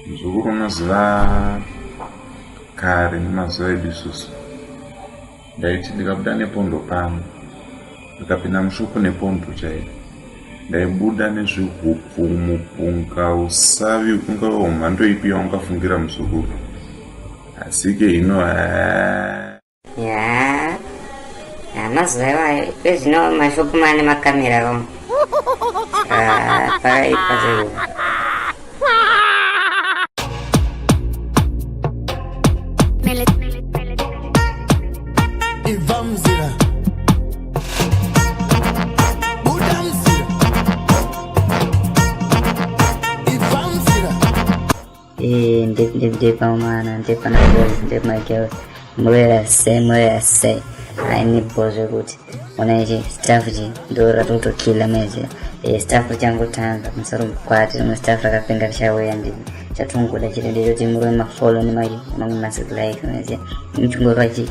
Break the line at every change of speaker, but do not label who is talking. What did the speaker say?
muzukuru unoziva kare nemazuva edu isusu ndaiti ndikabuda nepondo pano ndikapinda mushopo nepondo chaiyo ndaibuda nezvihupfu mupunga usavi ungava wemhando ipi yaungafungira muzukuru asi ke ino haa
yaa mazuva iwayo ezvino mashopu mane makamera vamo ah, pakaipa zvaivo Hey, deep, deep, deep, oh man, and deep, and I'm girls, deep, my girls. Mwera se, mwera se. Aini bozo kuti. Ona ichi, staff ji, dora tuto kila mezi. E, staff changu tanga, msaru mkwati, mwa staff raka pinga kisha wea ndi. Chatungu da chile, dejo timuru ma follow ni maji, mangu masik like, mezi. Mchungu raji,